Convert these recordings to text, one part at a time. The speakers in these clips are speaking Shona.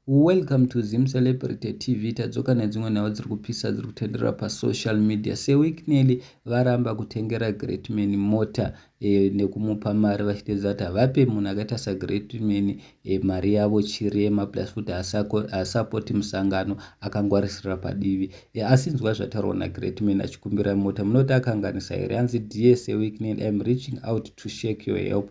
Welcome to Zim Celebrity TV. Tadzoka nedzimwe nhau dziri kupisa dziri kutenderera pasocial media. Seweek Nelly varamba kutengera Greatman mota e, nekumupa mari vachitedza kuti havape munhu akaita saGreatman e, eh, mari yavo chirema plus futi haasapoti musangano akangwarisira padivi e, asi nzwa zvataurwa naGreatman achikumbira mota munoti akanganisa here anzi dear Seweek Nelly I'm reaching out to shake your help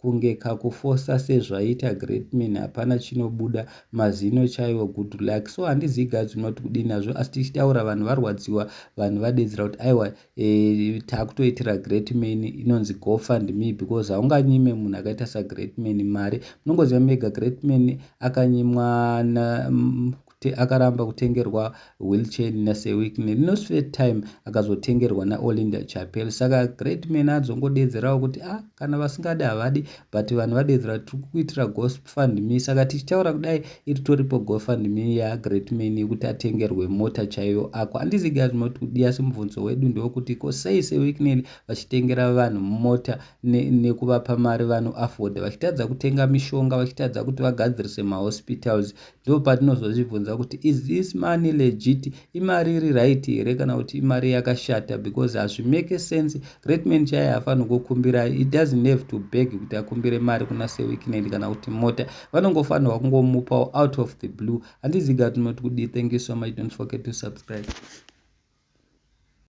Kunge kakufosa sezvaita greatman hapana chinobuda mazino chaiwo good luck so handizivi guys unoti kudii nazvo asi tichitaura vanhu varwadziwa vanhu vadedzera kuti aiwa e, takutoitira greatman inonzi gofund me because haunganyime munhu akaita sagreatman mari munongoziva mega greatman akanyimwa kuti akaramba kutengerwa wheelchair naseweek nelinos first time akazotengerwa naolinda chapel saka great man adzongodeedzerawo kuti a ah, kana vasingadi havadi but vanhu vadeedzera tiri kukuitira gofundme saka tichitaura kudai iritoripo gofundme yagreat man yekuti atengerwe mota chaiyo ako handizi guys moti kudi asi mubvunzo wedu ndewokuti ko sei seweeknel vachitengera vanhu mota nekuvapa ne mari vanoafforda vachitadza kutenga mishonga vachitadza kuti vagadzirise mahospitals ndopatinozozvibvunza kuti is this money legit imari iri right here kana kuti imari yakashata because hazvimake sense greatman chaiye afanokukumbira it doesn't have to beg kuti akumbire mari kuna seweekend kana kuti mota vanongofanirwa kungomupawo out of the blue handiziga tinoti kudii thank you so much don't forget to subscribe